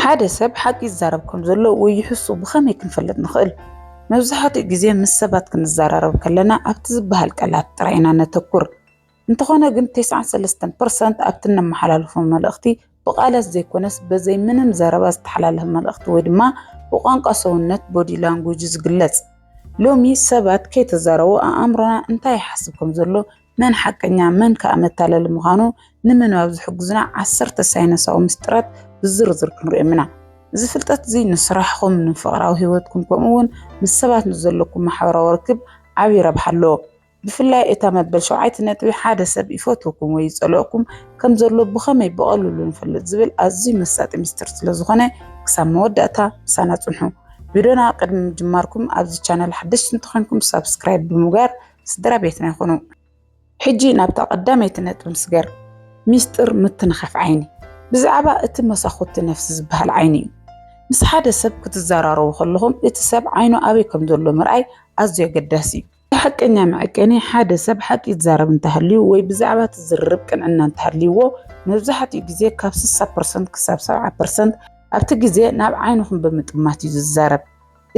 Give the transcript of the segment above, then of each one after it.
ሓደ ሰብ ሓቂ ይዛረብ ከም ዘሎ ወይ ይሕሱ ብኸመይ ክንፈልጥ ንኽእል? መብዛሕትኡ ግዜ ምስ ሰባት ክንዘራረብ ከለና ኣብቲ ዝበሃል ቃላት ጥራይ ኢና ነተኩር። እንተኾነ ግን ተስዓን ሰለስተን ፐርሰንት ኣብቲ እነመሓላልፎ መልእኽቲ ብቓላት ዘይኮነስ በዘይ ምንም ዘረባ ዝተሓላለፈ መልእኽቲ ወይ ድማ ብቋንቋ ሰውነት፣ Body Language፣ ዝግለጽ። ሎሚ ሰባት ከይተዛረቡ ኣኣምሮና እንታይ ይሓስብ ከም ዘሎ መን ሓቀኛ መን ከኣ መታለሊ ምዃኑ ንምንባብ ዝሕግዙና ዓሰርተ ሳይንሳዊ ምስጢራት ብዝርዝር ክንሪኦም ኢና። እዚ ፍልጠት እዚ ንስራሕኹም፣ ንፍቕራዊ ህይወትኩም ከምኡውን ምስ ሰባት ንዘለኩም ማሕበራዊ ርክብ ዓቢ ረብሓ ኣለዎ። ብፍላይ እታ መበል ሸውዓይቲ ነጥቢ ሓደ ሰብ ይፈትወኩም ወይ ይጸልኦኩም ከም ዘሎ ብኸመይ ብቐልሉ ንፈልጥ ዝብል ኣዝዩ መሳጢ ምስጢር ስለ ዝኾነ ክሳብ መወዳእታ ምሳና ጽንሑ። ቪድዮና ቅድሚ ምጅማርኩም ኣብዚ ቻነል ሓደሽቲ እንተኾይንኩም ሳብስክራይብ ብምግባር ስድራ ቤትና ይኹኑ። ሕጂ ናብታ ቀዳመይቲ ነጥቢ ንስገር፣ ሚስጢር ምትንኻፍ ዓይኒ። ብዛዕባ እቲ መሳኹቲ ነፍሲ ዝበሃል ዓይኒ እዩ። ምስ ሓደ ሰብ ክትዘራረቡ ከለኹም እቲ ሰብ ዓይኑ ኣበይ ከም ዘሎ ምርኣይ ኣዝዩ ኣገዳሲ እዩ። እቲ ሓቀኛ መዐቀኒ ሓደ ሰብ ሓቂ ይዛረብ እንተሃልዩ ወይ ብዛዕባ እቲ ዝርርብ ቅንዕና እንተሃልይዎ መብዛሕትኡ ግዜ ካብ ስሳ ፐርሰንት ክሳብ ሰብዓ ፐርሰንት ኣብቲ ግዜ ናብ ዓይንኹም ብምጥማት እዩ ዝዛረብ።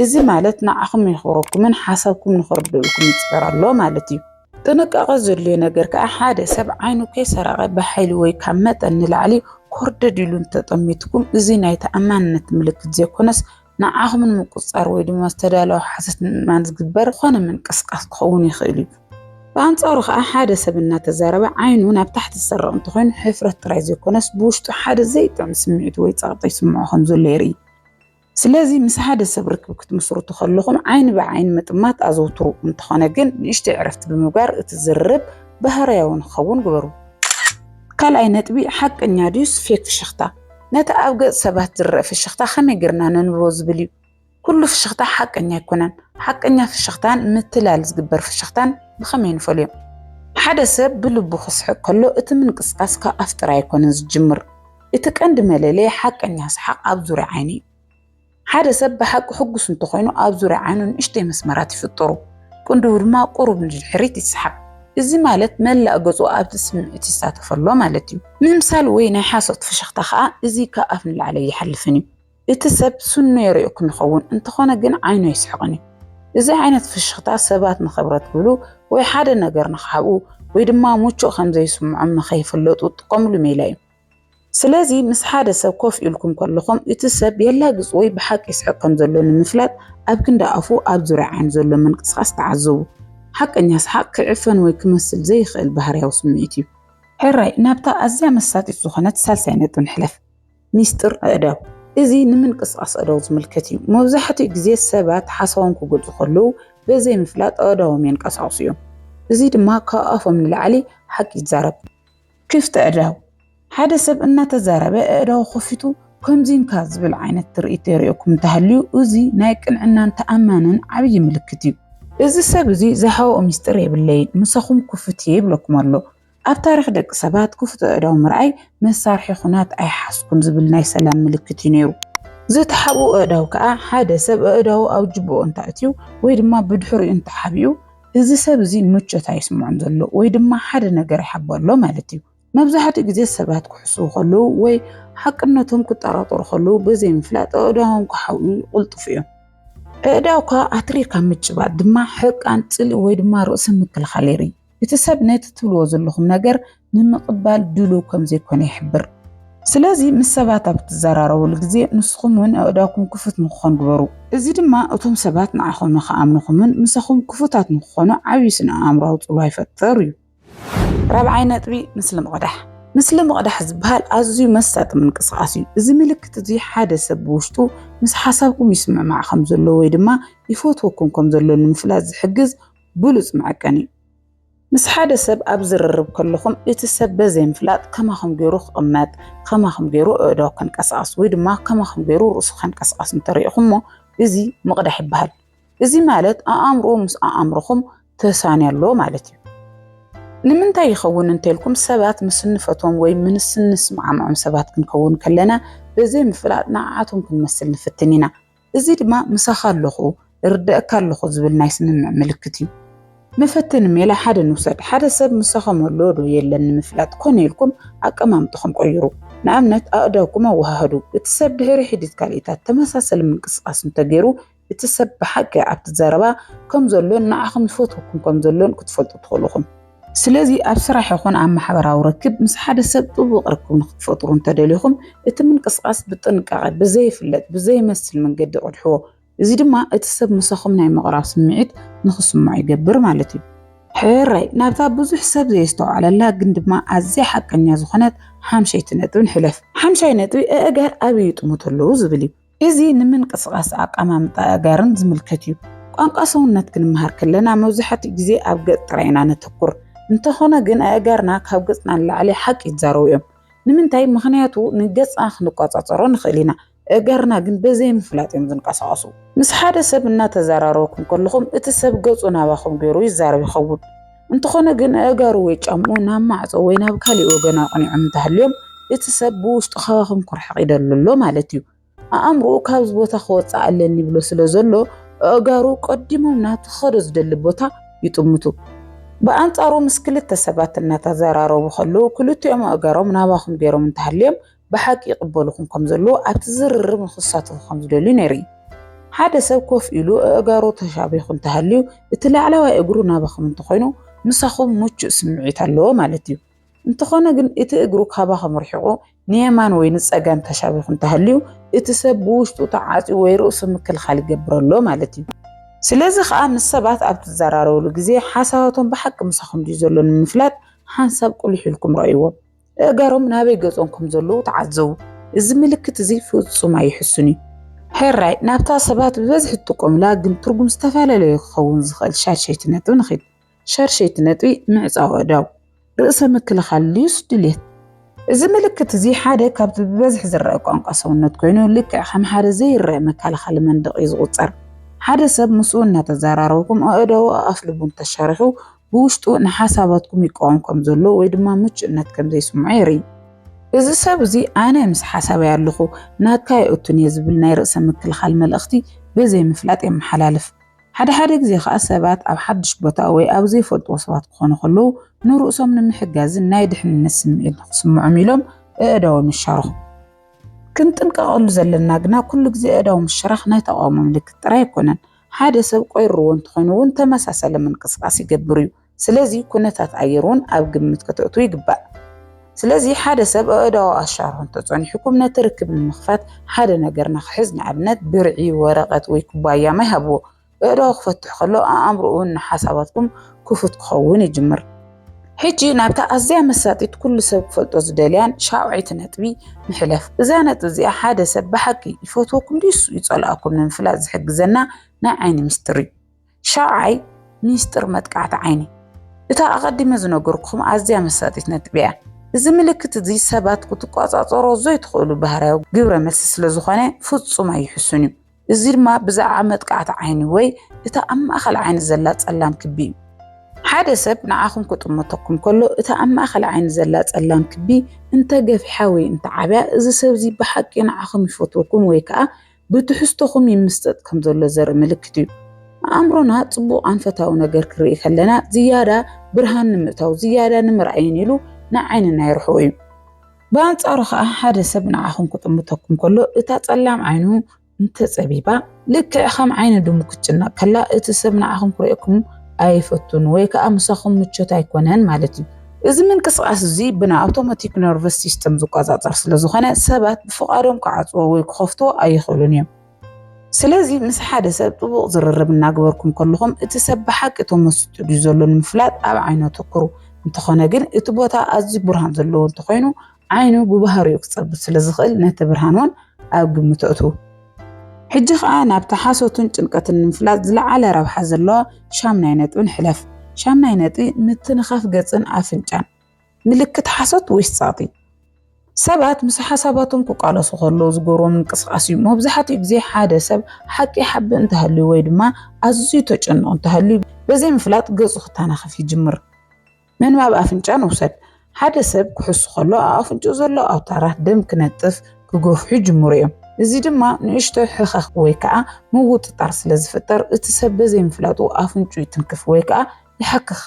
እዚ ማለት ንዓኹም የኽብረኩምን ሓሳብኩም ንኽርድኡልኩም ይፅበር ኣሎ ማለት እዩ። ጥንቃቐ ዘድልዮ ነገር ከዓ ሓደ ሰብ ዓይኑ ከይሰረቐ ብሓይሊ ወይ ካብ መጠን ንላዕሊ ኮርደድ ኢሉ እንተጠሚትኩም እዚ ናይ ተኣማንነት ምልክት ዘይኮነስ ንዓኹም ንምቁፅፃር ወይ ድማ ዝተዳለወ ሓሶት ንምእማን ዝግበር ዝኾነ ምንቅስቃስ ክኸውን ይኽእል እዩ። ብኣንፃሩ ከዓ ሓደ ሰብ እናተዛረበ ዓይኑ ናብ ታሕቲ ዝሰርቕ እንተኾይኑ ሕፍረት ጥራይ ዘይኮነስ ብውሽጡ ሓደ ዘይጥዕም ስምዒት ወይ ፀቕጢ ይስምዖ ከምዘሎ የርኢ። ስለዚ ምስ ሓደ ሰብ ርክብ ክትምስርቱ ከለኹም ዓይኒ ብዓይኒ ምጥማት ኣዘውትሩ። እንተኾነ ግን ንእሽተይ ዕረፍቲ ብምግባር እቲ ዝርርብ ባህርያዊ ንክኸውን ግበሩ። ካልኣይ ነጥቢ፣ ሓቀኛ ድዩስ ፌክ ፍሽኽታ? ነቲ ኣብ ገጽ ሰባት ዝረኣ ፍሽኽታ ከመይ ጌርና ነንብቦ ዝብል እዩ። ኩሉ ፍሽኽታ ሓቀኛ ኣይኮነን። ሓቀኛ ፍሽኽታን ምትላል ዝግበር ፍሽኽታን ብኸመይ ንፈልዮም? ሓደ ሰብ ብልቡ ክስሕቕ ከሎ እቲ ምንቅስቓስ ካብ ኣፍ ጥራይ ኣይኮነን ዝጅምር። እቲ ቀንዲ መለለዪ ሓቀኛ ሰሓቕ ኣብ ዙርያ ዓይኒ እዩ። ሓደ ሰብ ብሓቂ ሕጉስ እንተኾይኑ ኣብ ዙርያ ዓይኑ ንእሽተይ መስመራት ይፍጠሩ፣ ቅንድቡ ድማ ቁሩብ ንድሕሪት ይሰሓብ። እዚ ማለት መላእ ገጹ ኣብቲ ስምዒት ይሳተፍ ኣሎ ማለት እዩ። ምምሳል ወይ ናይ ሓሶት ፍሽኽታ ከኣ እዚ ካብ ኣፍ ንላዕሊ ኣይሓልፍን እዩ። እቲ ሰብ ስኑ የርእየኩም ይኸውን፣ እንተኾነ ግን ዓይኑ ኣይስሕቕን እዩ። እዚ ዓይነት ፍሽኽታ ሰባት ንኽብረት ክብሉ ወይ ሓደ ነገር ንኽሓብኡ ወይ ድማ ምቹእ ከም ዘይስምዖም ንኸይፍለጡ ዝጥቀሙሉ ሜላ እዩ። ስለዚ ምስ ሓደ ሰብ ኮፍ ኢልኩም ከለኹም እቲ ሰብ የላግጽ ወይ ብሓቂ ይስሕቕ ከም ዘሎ ንምፍላጥ ኣብ ክንዲ ኣፉ ኣብ ዙርያ ዓይኑ ዘሎ ምንቅስቓስ ተዓዘቡ። ሓቀኛ ሰሓቕ ክዕፈን ወይ ክመስል ዘይኽእል ባህርያዊ ስምዒት እዩ። ሕራይ ናብታ ኣዝያ መሳጢት ዝኾነት ሳልሳይ ነጥቢ ንሕለፍ፣ ሚስጥር ኣእዳው። እዚ ንምንቅስቓስ ኣእዳው ዝምልከት እዩ። መብዛሕትኡ ግዜ ሰባት ሓሳቦም ክገልጹ ከለዉ በዘይምፍላጥ ኣእዳዎም የንቀሳቕሱ እዮም፣ እዚ ድማ ካብ ኣፎም ንላዕሊ ሓቂ ይዛረብ። ክፍቲ ኣእዳው ሓደ ሰብ እናተዛረበ ኣእዳው ከፊቱ ከምዚንካ ዝብል ዓይነት ትርኢት የርእየኩም እንተሃልዩ እዚ ናይ ቅንዕናን ተኣማንን ዓብዪ ምልክት እዩ። እዚ ሰብ እዚ ዝሃወኦ ምስጢር የብለይን ምሳኹም ክፉት እየ ይብለኩም ኣሎ። ኣብ ታሪኽ ደቂ ሰባት ክፉት ኣእዳው ምርኣይ መሳርሒ ኩናት ኣይሓዝኩን ዝብል ናይ ሰላም ምልክት እዩ ነይሩ። ዝተሓብኡ ኣእዳው ከኣ ሓደ ሰብ ኣእዳው ኣብ ጅብኡ እንተኣእትዩ ወይ ድማ ብድሕሪኡ እንተሓቢኡ እዚ ሰብ እዚ ምቾት ኣይስምዖን ዘሎ ወይ ድማ ሓደ ነገር ይሓቦ ኣሎ ማለት እዩ። መብዛሕትኡ ግዜ ሰባት ክሕስዉ ከለዉ ወይ ሓቅነቶም ክጠራጠሩ ከለዉ ብዘይምፍላጥ ኣእዳዎም ክሓውዩ ይቕልጥፉ እዮም። ኣእዳውካ ኣትሪርካ ምጭባጥ ድማ ሕርቃን፣ ጽልኢ ወይ ድማ ርእሰ ምክልኻል የርኢ። እቲ ሰብ ነቲ ትብልዎ ዘለኹም ነገር ንምቕባል ድሉው ከም ዘይኮነ ይሕብር። ስለዚ ምስ ሰባት ኣብ እትዘራረቡሉ ግዜ ንስኹም እውን ኣእዳውኩም ክፉት ንክኾን ግበሩ። እዚ ድማ እቶም ሰባት ንዓኹም ንክኣምኑኹምን ምሳኹም ክፉታት ንክኾኑ ዓብዪ ስነ-ኣእምሮኣዊ ጽልዋ ይፈጥር እዩ። ራብዓይ ነጥቢ፣ ምስሊ ምቕዳሕ። ምስሊ ምቕዳሕ ዝበሃል ኣዝዩ መሳጢ ምንቅስቓስ እዩ። እዚ ምልክት እዚ ሓደ ሰብ ብውሽጡ ምስ ሓሳብኩም ይስምዕማዕ ከም ዘሎ ወይ ድማ ይፈትወኩም ከም ዘሎ ንምፍላጥ ዝሕግዝ ብሉጽ መዐቀኒ እዩ። ምስ ሓደ ሰብ ኣብ ዝርርብ ከለኹም እቲ ሰብ በዘይምፍላጥ ከማኹም ገይሩ ክቕመጥ፣ ከማኹም ገይሩ ኣእዳው ከንቀሳቕስ ወይ ድማ ከማኹም ገይሩ ርእሱ ከንቀሳቕስ እንተሪእኹሞ እዚ ምቕዳሕ ይበሃል። እዚ ማለት ኣኣምርኡ ምስ ኣኣምሮኹም ተሳንዮ ኣሎ ማለት እዩ። ንምንታይ ይኸውን እንተልኩም ሰባት ምስ እንፈትዎም ወይ ምስ እንስማዕምዖም ሰባት ክንከውን ከለና በዘይምፍላጥ ንዓዓቶም ክንመስል ንፍትን ኢና። እዚ ድማ ምሳኻ ኣለኹ፣ እርደእካ ኣለኹ ዝብል ናይ ስምምዕ ምልክት እዩ። መፈተኒ ሜላ ሓደ ንውሰድ። ሓደ ሰብ ምሳኹም ኣሎ ዶ የለን ንምፍላጥ ኮነ ኢልኩም ኣቀማምጥኹም ቀይሩ። ንኣብነት ኣእዳውኩም ኣወሃህዱ። እቲ ሰብ ድሕሪ ሒዲት ካልኢታት ተመሳሰሊ ምንቅስቓስ እንተገይሩ እቲ ሰብ ብሓቂ ኣብቲ ዘረባ ከም ዘሎን ንዓኹም ይፈትወኩም ከም ዘሎን ክትፈልጡ ትኽእሉ ኢኹም። ስለዚ ኣብ ስራሕ ይኹን ኣብ ማሕበራዊ ርክብ ምስ ሓደ ሰብ ጥቡቕ ርክብ ንኽትፈጥሩ እንተደሊኹም እቲ ምንቅስቓስ ብጥንቃቐ ብዘይፍለጥ ብዘይመስል መንገዲ ቅድሕዎ። እዚ ድማ እቲ ሰብ ምሳኹም ናይ ምቕራብ ስምዒት ንኽስምዖ ይገብር ማለት እዩ። ሕራይ ናብታ ብዙሕ ሰብ ዘየስተውዓለላ ግን ድማ ኣዝያ ሓቀኛ ዝኾነት ሓምሸይቲ ነጥቢ ንሕለፍ። ሓምሻይ ነጥቢ ኣእጋር ኣበይ ይጥምቱ ኣለዉ ዝብል እዩ። እዚ ንምንቅስቓስ ኣቀማምጣ ኣእጋርን ዝምልከት እዩ። ቋንቋ ሰውነት ክንመሃር ከለና መብዛሕትኡ ግዜ ኣብ ገጽ ጥራይ ኢና ነተኩር። እንተኾነ ግን ኣእጋርና ካብ ገጽና ንላዕሊ ሓቂ ይዛረቡ እዮም። ንምንታይ? ምኽንያቱ ንገጽና ክንቆጻጸሮ ንኽእል ኢና፣ ኣእጋርና ግን በዘይምፍላጥ እዮም ዝንቀሳቐሱ። ምስ ሓደ ሰብ እናተዘራረብኩም ከለኹም እቲ ሰብ ገጹ ናባኹም ገይሩ ይዛረብ ይኸውን። እንተኾነ ግን ኣእጋሩ ወይ ጫምኡ ናብ ማዕጾ ወይ ናብ ካልእ ወገን ኣቕኒዖም እንተሃልዮም እቲ ሰብ ብውሽጡ ካባኹም ኩርሕቕ ይደሉ ኣሎ ማለት እዩ። ኣእምሮኡ ካብዚ ቦታ ክወጽእ ኣለኒ ይብሎ ስለ ዘሎ ኣእጋሩ ቀዲሞም ናብቲ ክኸዶ ዝደሊ ቦታ ይጥምቱ። ብኣንጻሩ ምስ ክልተ ሰባት እናተዘራረቡ ከለዉ ክልቲኦም ኣእጋሮም ናባኹም ገይሮም እንተሃልዮም ብሓቂ ይቕበሉኹም ከም ዘለዉ ኣብቲ ዝርርብ ንኽሳተፉ ከም ዝደልዩ ነይሩ። ሓደ ሰብ ኮፍ ኢሉ ኣእጋሩ ተሻቢኹ እንተሃልዩ እቲ ላዕለዋይ እግሩ ናባኹም እንተኾይኑ ምሳኹም ምቹእ ስምዒት ኣለዎ ማለት እዩ። እንተኾነ ግን እቲ እግሩ ካባኹም ርሒቑ ንየማን ወይ ንጸጋም ተሻቢኹ እንተሃልዩ እቲ ሰብ ብውሽጡ ተዓጽዩ ወይ ርእሱ ምክልኻል ይገብር ኣሎ ማለት እዩ። ስለዚ ኸኣ ምስ ሰባት ኣብ ትዘራረብሉ ግዜ ሓሳባቶም ብሓቂ ምሳኹም ድዩ ዘሎ ንምፍላጥ ሓንሳብ ቁሊሕ ኢልኩም ረኣይዎም። እእጋሮም ናበይ ገጾም ከም ዘለዉ ተዓዘቡ። እዚ ምልክት እዚ ፍጹም ኣይሕሱን እዩ። ሕራይ ናብታ ሰባት ብበዝሒ ትጥቀሙላ ግን ትርጉም ዝተፈላለዩ ክኸውን ዝኽእል ሻድሸይቲ ነጥቢ ንኺድ። ሻድሸይቲ ነጥቢ ምዕጻው ኣእዳው፣ ርእሰ ምክልኻል ልዩስ ድሌት። እዚ ምልክት እዚ ሓደ ካብቲ ብበዝሒ ዝረኣ ቋንቋ ሰውነት ኮይኑ ልክዕ ከም ሓደ ዘይረኣ መከላኸሊ መንደቕ እዩ ዝቑጸር። ሓደ ሰብ ምስኡ እናተዘራረብኩም ኣእዳዉ ኣኣፍልቡ እንተሻርሑ ብውሽጡ ንሓሳባትኩም ይቃወም ከም ዘሎ ወይ ድማ ምቹእነት ከም ዘይስምዖ የርኢ። እዚ ሰብ እዚ ኣነ ምስ ሓሳበይ ኣለኹ፣ ናትካ ኣይእቱን እየ ዝብል ናይ ርእሰ ምክልኻል መልእኽቲ ብዘይ ምፍላጥ የመሓላልፍ። ሓደ ሓደ ግዜ ከኣ ሰባት ኣብ ሓድሽ ቦታ ወይ ኣብ ዘይፈልጥዎ ሰባት ክኾኑ ከለዉ ንርእሶም ንምሕጋዝን ናይ ድሕንነት ስምዒት ንኽስምዖም ኢሎም ኣእዳዎም ይሻርኹ። ክንጥንቀቐሉ ዘለና ግና ኩሉ ግዜ ኣእዳው ምሽራኽ ናይ ተቓውሞ ምልክት ጥራይ ኣይኮነን። ሓደ ሰብ ቆይርዎ እንትኾይኑ እውን ተመሳሳሊ ምንቅስቃስ ይገብር እዩ። ስለዚ ኩነታት ኣየር እውን ኣብ ግምት ከተእትዉ ይግባእ። ስለዚ ሓደ ሰብ ኣእዳዉ ኣሻርሑ እንተፀኒሑኩም ነቲ ርክብ ንምኽፋት ሓደ ነገር ንክሕዝ ንኣብነት ብርዒ፣ ወረቀት ወይ ኩባያ ማይ ሃብዎ። ኣእዳዉ ክፈትሕ ከሎ ኣእምርኡ እውን ንሓሳባትኩም ክፉት ክኸውን ይጅምር። ሕጂ ናብታ ኣዝያ መሳጢት ኩሉ ሰብ ክፈልጦ ዝደልያን ሻውዐይቲ ነጥቢ ንሕለፍ። እዛ ነጥቢ እዚኣ ሓደ ሰብ ብሓቂ ይፈትወኩም ድዩስ ይጸልኣኩም ንምፍላጥ ዝሕግዘና ናይ ዓይኒ ምስጢር እዩ። ሻውዓይ ሚስጢር መጥቃዕቲ ዓይኒ እታ ኣቐዲመ ዝነገርኩም ኣዝያ መሳጢት ነጥቢ እያ። እዚ ምልክት እዚ ሰባት ክትቆጻጸሮ ዘይትኽእሉ ባህርያዊ ግብረ መልሲ ስለ ዝኾነ ፍጹም ኣይሕሱን እዩ። እዚ ድማ ብዛዕባ መጥቃዕቲ ዓይኒ ወይ እቲ ኣብ ማእከል ዓይኒ ዘላ ጸላም ክቢ እዩ። ሓደ ሰብ ንዓኹም ክጥምተኩም ከሎ እቲ ኣብ ማእከል ዓይኒ ዘላ ጸላም ክቢ እንተ ገፊሓ ወይ እንተ ዓብያ እዚ ሰብ እዚ ብሓቂ ንዓኹም ይፈትወኩም ወይ ከኣ ብትሕዝቶኹም ይምስጠጥ ከም ዘሎ ዘርኢ ምልክት እዩ። ኣእምሮና ጽቡቓን ፈታዊ ነገር ክርኢ ከለና ዝያዳ ብርሃን ንምእታው ዝያዳ ንምርኣይን ኢሉ ንዓይንና የርሕቆ እዩ። ብኣንጻሩ ኸኣ ሓደ ሰብ ንዓኹም ክጥምተኩም ከሎ እታ ጸላም ዓይኑ እንተጸቢባ ልክዕ ከም ዓይኒ ድሙ ክትጭነቕ ከላ እቲ ሰብ ንዓኹም ክርእየኩም ኣይፈቱን ወይ ከኣ ምሳኹም ምቾት ኣይኮነን ማለት እዩ። እዚ ምንቅስቓስ እዚ ብናይ ኣውቶማቲክ ነርቨስ ሲስተም ዝቆጻጸር ስለ ዝኾነ ሰባት ብፍቓዶም ክዓጽዎ ወይ ክኸፍትዎ ኣይኽእሉን እዮም። ስለዚ ምስ ሓደ ሰብ ጥቡቕ ዝርርብ እናግበርኩም ከለኹም እቲ ሰብ ብሓቂ ተመሲጡ ድዩ ዘሎ ንምፍላጥ ኣብ ዓይኑ ኣተኩሩ። እንተኾነ ግን እቲ ቦታ ኣዝዩ ብርሃን ዘለዎ እንተኾይኑ ዓይኑ ብባህሪኡ ክጸብብ ስለ ዝኽእል ነቲ ብርሃን እውን ኣብ ግምት ኣእትዉ። ሕጂ ኸኣ ናብቲ ሓሶትን ጭንቀትን ንምፍላጥ ዝለዓለ ረብሓ ዘለዎ ሻምናይ ነጥቢ ንሕለፍ። ሻምናይ ነጥቢ ምትንኻፍ ገጽን ኣፍንጫን። ምልክት ሓሶት ወይስ ጸቕጢ? ሰባት ምስ ሓሳባቶም ክቃለሱ ከለዉ ዝገብርዎ ምንቅስቓስ እዩ። መብዛሕትኡ ግዜ ሓደ ሰብ ሓቂ ይሓብእ እንተሃልዩ ወይ ድማ ኣዝዩ ተጨንቑ እንተሃልዩ ብዘይምፍላጥ ገጹ ክተናኸፍ ይጅምር። ምንባብ ኣፍንጫ ንውሰድ። ሓደ ሰብ ክሕሱ ከሎ ኣብ ኣፍንጫኡ ዘሎ ኣውታራት ደም ክነጥፍ፣ ክገፍሑ፣ ይጅምሩ እዮም። እዚ ድማ ንእሽቶ ሕኸኽ ወይ ከዓ ምውጥጣር ስለ ዝፍጠር እቲ ሰብ በዘይምፍላጡ ኣፍንጭኡ ይትንክፍ ወይ ከዓ ይሓክኽ።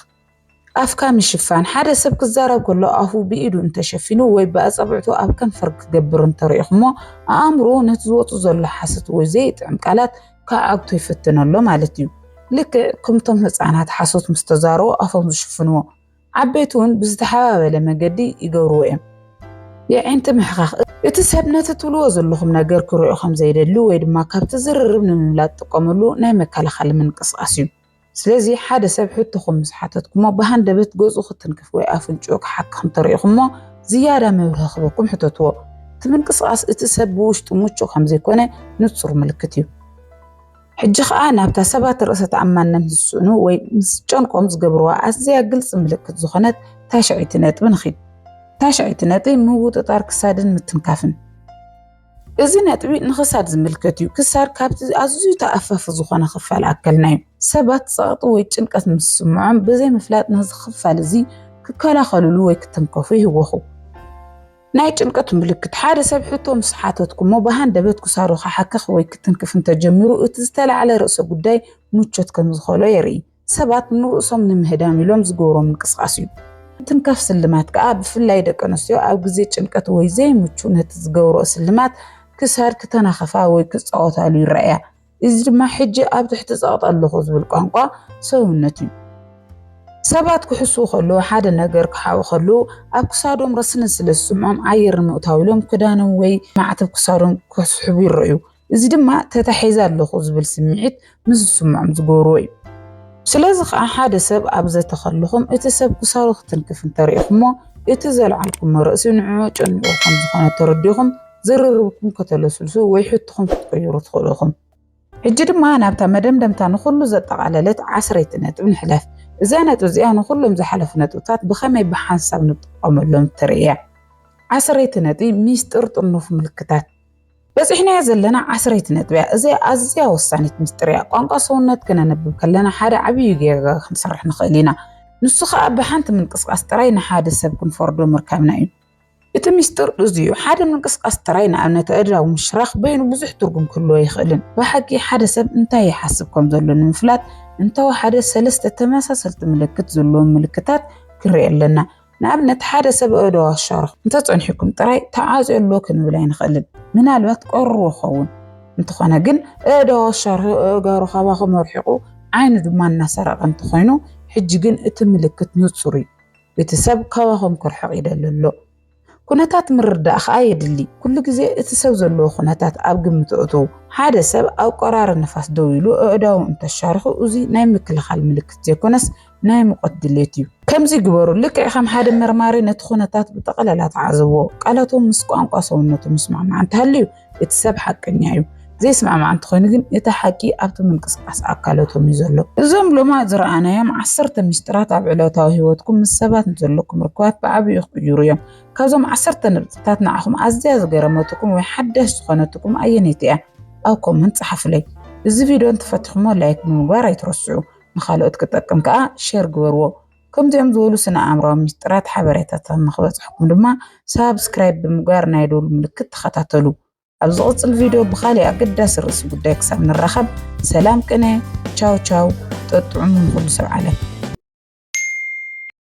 ኣፍካ ምሽፋን፣ ሓደ ሰብ ክዛረብ ከሎ ኣፉ ብኢዱ እንተሸፊኑ ወይ ብኣጻብዕቱ ኣብ ከንፈር ክገብር እንተሪኢኹሞ፣ ኣእምሮኡ ነቲ ዝወጹ ዘሎ ሓሶት ወይ ዘይጥዕም ቃላት ክዓግቶ ይፍትን ኣሎ ማለት እዩ። ልክዕ ከምቶም ህጻናት ሓሶት ምስ ተዛረቡ ኣፎም ዝሽፍንዎ፣ ዓበይቲ'ውን ብዝተሓባበለ መገዲ ይገብርዎ እዮም። የዒንቲ ምሕካኽ፣ እቲ ሰብ ነቲ ትብልዎ ዘለኹም ነገር ክሪኦ ከም ዘይደሊ ወይ ድማ ካብቲ ዝርርብ ንምምላጥ ዝጥቀመሉ ናይ መከላኸሊ ምንቅስቓስ እዩ። ስለዚ ሓደ ሰብ ሕቶኹም ምስ ሓተትኩሞ ብሃንደበት ገጹ ክትንክፍ ወይ ኣፍንጭኡ ክሓክኽ እንተሪኢኹሞ ዝያዳ መብርሂ ክህበኩም ሕተትዎ። እቲ ምንቅስቓስ እቲ ሰብ ብውሽጡ ምቹእ ከም ዘይኮነ ንጹር ምልክት እዩ። ሕጂ ከኣ ናብታ ሰባት ርእሰ ተኣማንነት ዝስእኑ ወይ ምስ ዝጨንቆም ዝገብርዋ ኣዝያ ግልጺ ምልክት ዝኾነት ታሽዐይቲ ነጥቢ ንኺድ። ታሽዐይቲ ነጥቢ ምውጥጣር ክሳድን ምትንካፍን። እዚ ነጥቢ ንክሳድ ዝምልከት እዩ። ክሳድ ካብቲ ኣዝዩ ተኣፋፊ ዝኾነ ክፋል ኣከልና እዩ። ሰባት ጸቕጢ ወይ ጭንቀት ምስ ዝስምዖም ብዘይ ምፍላጥ ነዚ ክፋል እዚ ክከላኸልሉ ወይ ክትንከፉ ይህወኹ። ናይ ጭንቀት ምልክት ሓደ ሰብ ሕቶ ምስ ሓተትኩሞ ብሃንደበት ክሳዱ ክሓክኽ ወይ ክትንክፍ እንተጀሚሩ እቲ ዝተላዕለ ርእሰ ጉዳይ ምቾት ከም ዝኸሎ የርኢ። ሰባት ንርእሶም ንምህዳም ኢሎም ዝገብሮ ምንቅስቓስ እዩ። ምትንካፍ ስልማት ከኣ ብፍላይ ደቂ ኣንስትዮ ኣብ ግዜ ጭንቀት ወይ ዘይምቹእ ነቲ ዝገብርኦ ስልማት ክሳድ ክተናኽፋ ወይ ክጻወታሉ ይረኣያ። እዚ ድማ ሕጂ ኣብ ትሕቲ ጸቕጢ ኣለኹ ዝብል ቋንቋ ሰውነት እዩ። ሰባት ክሕስዉ ከለዉ፣ ሓደ ነገር ክሓብኡ ከለዉ ኣብ ክሳዶም ረስኒ ስለ ዝስምዖም ኣየር ንምእታው ኢሎም ክዳኖም ወይ ማዕተብ ክሳዶም ክስሕቡ ይረኣዩ። እዚ ድማ ተታሒዘ ኣለኹ ዝብል ስምዒት ምስ ዝስምዖም ዝገብርዎ እዩ። ስለዚ ከኣ ሓደ ሰብ ኣብ ዘተ ከለኹም እቲ ሰብ ክሳሩ ክትንክፍ እንተርኢኹሞ እቲ ዘልዓልኩሞ ርእሲ ንዕኡ ኣጨኒቑ ከም ዝኾነ ተረዲኹም ዝርርብኩም ከተለስልሱ ወይ ሕቶኹም ክትቅይሩ ትኽእሉ ኢኹም። ሕጂ ድማ ናብታ መደምደምታ ንኹሉ ዘጠቓለለት ዓስረይቲ ነጥብ ንሕለፍ። እዛ ነጥቢ እዚኣ ንኹሎም ዝሓለፉ ነጥብታት ብኸመይ ብሓንሳብ ንጥቀመሎም እተርኢ እያ። ዓስረይቲ ነጥቢ፣ ሚስጥር ጥርኑፍ ምልክታት። በጺሕናያ ዘለና ዓስረይቲ ነጥቢያ እዚ ኣዝያ ወሳኒት ምስጢርያ ቋንቋ ሰውነት ክነነብብ ከለና ሓደ ዓብዩ ጌጋ ክንሰርሕ ንኽእል ኢና ንሱ ከዓ ብሓንቲ ምንቅስቃስ ጥራይ ንሓደ ሰብ ክንፈርዶ ምርካብና እዩ እቲ ሚስጥር እዚዩ ሓደ ምንቅስቃስ ጥራይ ንኣብነት ኣእዳው ምሽራኽ በይኑ ብዙሕ ትርጉም ክህልዎ ይኽእልን ብሓቂ ሓደ ሰብ እንታይ ይሓስብ ከም ዘሎ ንምፍላጥ እንተወሓደ ሰለስተ ተመሳሰልቲ ምልክት ዘለዎም ምልክታት ክንርኢ ኣለና ንኣብነት ሓደ ሰብ እዶ ኣሻርኹ እንተጸኒሕኩም ጥራይ ተዓጽዮ ኣሎ ክንብል ኣይንኽእልን። ምናልባት ቀርዎ ኸውን እንተኾነ ግን እዶ ኣሻርኹ እእጋሩ ካባኹም ኣርሒቑ ዓይኑ ድማ እናሰረቐ እንተኾይኑ ሕጂ ግን እቲ ምልክት ንጹር እዩ። እቲ ሰብ ካባኹም ክርሕቕ ይደሊ ኣሎ። ኩነታት ምርዳእ ኸኣ የድሊ። ኩሉ ግዜ እቲ ሰብ ዘለዎ ኩነታት ኣብ ግምት ኣእትዉ። ሓደ ሰብ ኣብ ቆራሪ ንፋስ ደው ኢሉ ኣእዳዉ እንተሻርኹ እዚ ናይ ምክልኻል ምልክት ዘይኮነስ ናይ ሙቐት ድሌት እዩ። ከምዚ ግበሩ፣ ልክዕ ከም ሓደ መርማሪ ነቲ ኩነታት ብጠቐለላ ተዓዘብዎ። ቃላቶም ምስ ቋንቋ ሰውነቶም ዝስማዕማዕ እንተሃልዩ እቲ ሰብ ሓቀኛ እዩ። ዘይስማዕማዕ እንተኾይኑ ግን እቲ ሓቂ ኣብቲ ምንቅስቓስ ኣካለቶም እዩ ዘሎ። እዞም ሎማት ዝረኣናዮም ዓሰርተ ሚስጥራት ኣብ ዕለታዊ ህይወትኩም ምስ ሰባት ንዘለኩም ርክባት ብዓቢኡ ክቕይሩ እዮም። ካብዞም ዓሰርተ ነጥብታት ንዓኹም ኣዝያ ዝገረመትኩም ወይ ሓዳሽ ዝኾነትኩም ኣየነይቲ እያ? ኣብ ኮመንት ጸሓፉለይ። እዚ ቪድዮ እንተፈቲኹምዎ ላይክ ብምግባር ኣይትረስዑ። ንኻልኦት ክጠቅም ከዓ ሸር ግበርዎ። ከምዚኦም ዝበሉ ስነ ኣእምራዊ ምስጢራት ሓበሬታታት ንክበፅሐኩም ድማ ሳብስክራይብ ብምግባር ናይ ደወል ምልክት ተኸታተሉ። ኣብ ዝቕፅል ቪድዮ ብካሊእ ኣገዳሲ ርእሲ ጉዳይ ክሳብ ንራኸብ ሰላም ቅነ ቻው ቻው ጠጥዑሙ ንኹሉ ሰብ ዓለም።